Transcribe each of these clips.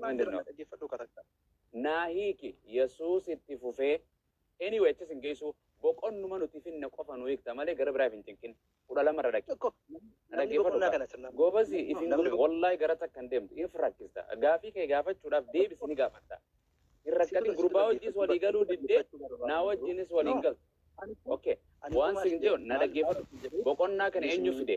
Maal jedhama dhaggeeffadhu katakka. Naa hiiki Yesuus itti fufee anyway achis hin geessu boqonnuma nuti finna qofa nu hiikta malee gara biraaf hin cinqin kudha lama irra dhaqi. Tokko namni Dhaggeeffadhu boqonnaa kana. kana sirnaan. Goobasi isin Namni godhu wallahi gara takka hin deemtu in rakkista gaafii kee gaafachuudhaaf deebisi ni gaafatta. Hin rakkatin gurbaa wajjinis walii galuu diddee naa wajjinis walii hin galtu. Okay. Waan sin jedhu na dhaggeeffadhu. Boqonnaa kana eenyu fide?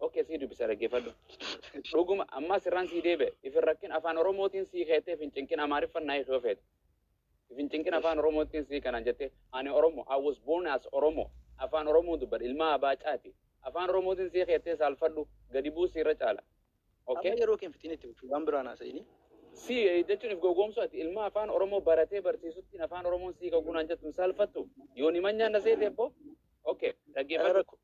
Ok sii dubisa dhaggeeffadhu. Dhuguma ammaa sirraan sii deebi'e. Ifin rakkin afaan Oromootiin sii keettee ifin cinqin Amaariffan naa hiikee ofeete. Ifin cinqin afaan Oromootiin sii kanaan jettee ani Oromo I was born as Oromo afaan Oromoo dubbadha ilmaa abaa caati. Afaan Oromootiin sii keettee saalfadhu gadi bu'u siirra caala. Ok. Amma yeroo kee hin fixiin itti fufi waan biraan haasa'ini. Si jechuun if gowwoomsu ati ilma afaan Oromoo baratee barsiisuttiin afaan Oromoon sii kagunaan jettu hin saalfattu. Yooni manyaan na seete ebboo. Ok Gara dhaggeeffadhu. rakkoo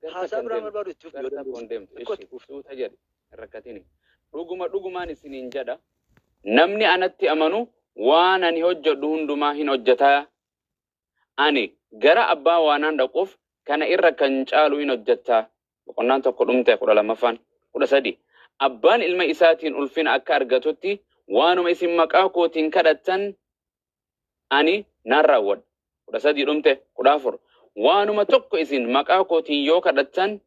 Garta Haasaa kan biraa deemtu. barbaadu itti fufti yoo Garta dandeesse. kun deemtu. Xiqqoo itti Ishi fufti. suuta jedhi. Hin rakkatini. Dhuguma dhugumaan isiniin jedha. Namni anatti amanu waan ani hojjedhu hundumaa hin hojjeta. Ani gara abbaa waanaan dhaquuf kana irra kan caalu hin hojjetta. Boqonnaan tokko dhumte kudha lammaffaan. Kudha sadi. Abbaan ilma isaatiin ulfina akka argatutti waanuma isin maqaa kootiin kadhattan ani nan raawwadha. 13 dhumte 14 Waanuma tokko isin maqaa kootiin yoo kadhattan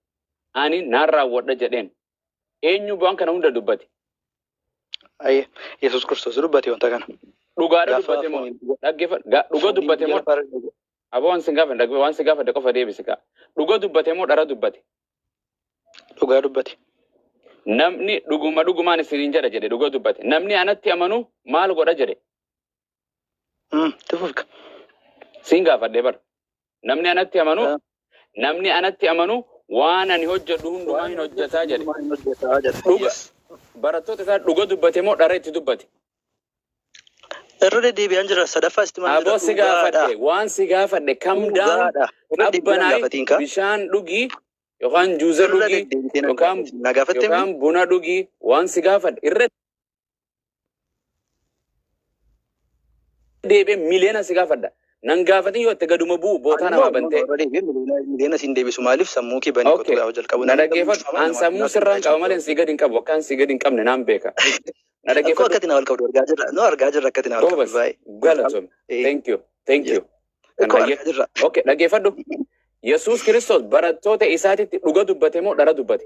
ani nan raawwadha jedheen. Eenyu waan kana hunda dubbate? Ayyee. Yesuus Kiristoos dubbate wanta kana. Dhugaadha Gaafa dubbate moo? fooniin- Dhaggeeffadhu. Ga- Dhuga fooniin dubbate moo? gaafa argate. Aboo waan sin gaafadhe dhaggeeffadhu. Waan sin gaafadhe qofa deebisi kaa. Dhuga dubbate moo dhara dubbate? Dhugaa dubbate. Namni dhuguma dhugumaan isiniin jedha jedhe dhuga dubbate. Namni anatti amanu maal godha jedhe? Hmm. Itti fufka. Siin gaafadhee bar. Namni anatti amanu Ah. namni anatti amanu waan ani hojjedhu hundumaa hin hojjetaa jedhe. Waan hojjetaa jedhe. Dhuga. Yes. Barattoota isaa dhuga dubbate moo dhara itti dubbate? Irra deddeebi'aan jira. Sadaffaa sitti maal Aboo si gaafadhe waan si gaafadhe kam daam Dhugaadha. Irra deddeebi'aan qabbanaay gaafatiin kaa. bishaan dhugii yookaan juuza Irra dhugii deddeebitee na yookaan gaafatiin. Na gaafattee yookaan buna dhugii waan si gaafadhe irra deebi'ee miliyoona si gaafadha. Nan gaafatin yoo itti gaduma bu'u bootaa namaa bantee. Miliyoona siin deebisu maaliif sammuu kee banii qotu gaafa jalqabu. Na dhaggeeffadhu. An sammuu sirraan qaba malee si gadi hin qabu. Akkaan si gadi hin qabne naan beeka. Na Akkoo dhaggeeffadhu. akkati na wal qabdu argaa jirra. Nu argaa jirra akkati na wal qabdu Goobas. baay'ee. Galatoom. Eh, Thank you. Thank you. Kan Akkoo dhaggeef- argaa jirra. Okay, dhaggeeffadhu. Yesuus Kiristoos barattoota isaatitti dhuga dubbate moo dhara dubbate?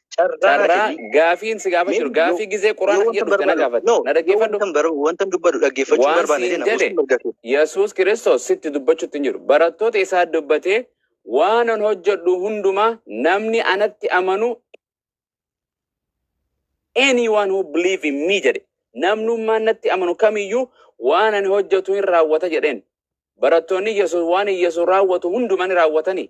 carraa gaafiin si gaafa jiru gaafii gizee quraana kiyya dhufte na gaafadhu na dhaggeeffadhu wanta dubbadhu dhaggeeffachuu waan barbaanne siin jedhe jedhe yesuus kiristoos sitti dubbachuutti hin jiru barattoota isaa dubbatee waanan hojjedhu hundumaa namni anatti amanu anyone who believe in me jedhe namnummaan natti amanu kamiyyuu waan ani hojjetu hin raawwata jedheen barattoonni yesuus waan yesuus raawwatu hundumaa ni raawwatanii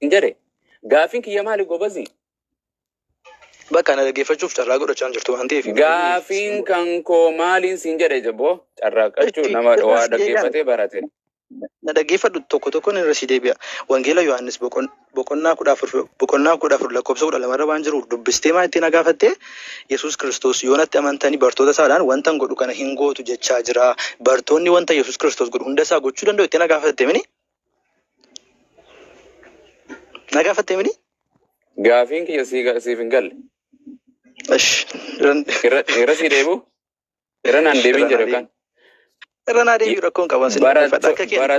Hin jedhe. Gaaffiin kiyya maali gobazi? Bakka na dhaggeeffachuuf carraa godhachaa hin jirtu waan ta'eef. Gaaffiin kan koo maaliin siin jedhe jaboo? Carraaqqachuu Itti- nama irra waa si deebi'an. dhaggeeffatee barate. Na dhaggeeffadhu tokko tokkoon irra si deebi'a. Wangeela Yohaannis boqon boqonnaa 14 boqonnaa 14 lakkoofsa 12 irra waan jiruuf dubbistee maa ittiin agaafatte Yesuus Kiristoos yoo natti amantanii bartoota isaadhaan wantan godhu kana hin gootu jechaa jira. Bartoonni wanta Yesuus Kiristoos godhu hunda isaa gochuu danda'u ittiin agaafatte mini? Agaafatte mini? Gaafiin kiyya sii ga- siif hin galle. Ish. Irra irra sii deebi'u. Irra naan deebiin jedha kan. Irra naa deebiin rakkoon qaban sin dhaggeeffadha akka kee ani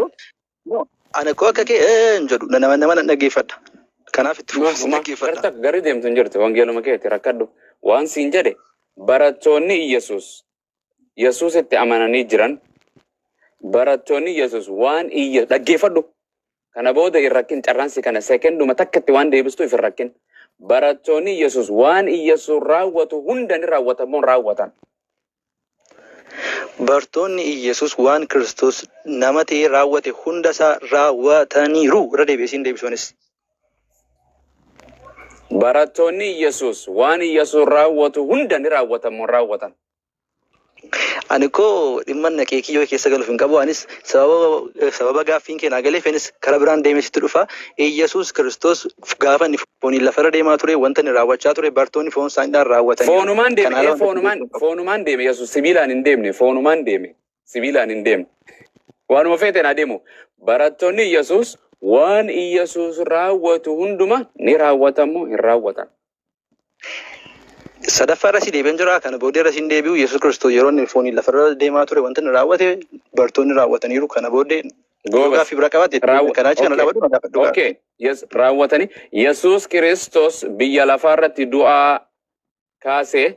koo ani koo akka kee hin jedhu nama nama nan dhaggeeffadha. Kanaaf itti fufi sin dhaggeeffadha. Garta gari deemtu hin jirtu wangeeluma keeti rakkadhu waan siin jedhe barattoonni Iyyasuus Yesuusitti amananii jiran barattoonni Yesuus waan iyya dhaggeeffadhu Kana booda hin rakkin carraan si kana sekenduma takka itti waan deebistuuf hin rakkin. Barattoonni Yesus waan Iyyasuus raawwatu hunda ni raawwatan moo hin raawwatan? Bartoonni Iyyasuus waan Kiristoos nama ta'ee raawwate hunda isaa raawwataniiru. Irra deebi'ee siin deebisuunis. Barattoonni Iyyasuus waan Iyyasuus raawwatu hunda ni raawwatan moo hin raawwatan? Ani koo dhimma naqee kiyyoo keessa galuuf hin qabu. Anis sababa sababa gaaffiin kee naa galeef anis karaa biraan deemee sitti dhufa. Iyyasuus Kiristoos gaafa inni fooniin lafarra deemaa ture wanta inni raawwachaa ture bartoonni foon isaaniidhaan raawwataniiru. Foonumaan Kan deeme, ala ee wanta foonumaan, Kiristoos foonumaan deeme Yesuus sibiilaan hin deemne, foonumaan deeme, sibiilaan hin deemne. Waanuma feeteen haa deemu. Barattoonni Yesuus waan Yesuus raawwatu hunduma ni raawwatamu hin raawwatan. Sadaffaa irra si deebi'an jira kana booda irra sin deebi'u Yesuus Kiristoos yeroo inni fooniin lafarra deemaa ture wanti inni raawwate bartoonni raawwataniiru kana booda yoo Goobas. gaaffii bira qabaatte Raawwa- kanaa achi kana okay. dhaabadhu na gaafadhu gaafadhu. Okay. Yes, raawwatanii Yesuus Kiristoos biyya lafaa irratti du'aa kaasee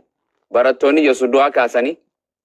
barattoonni Yesuus du'aa kaasanii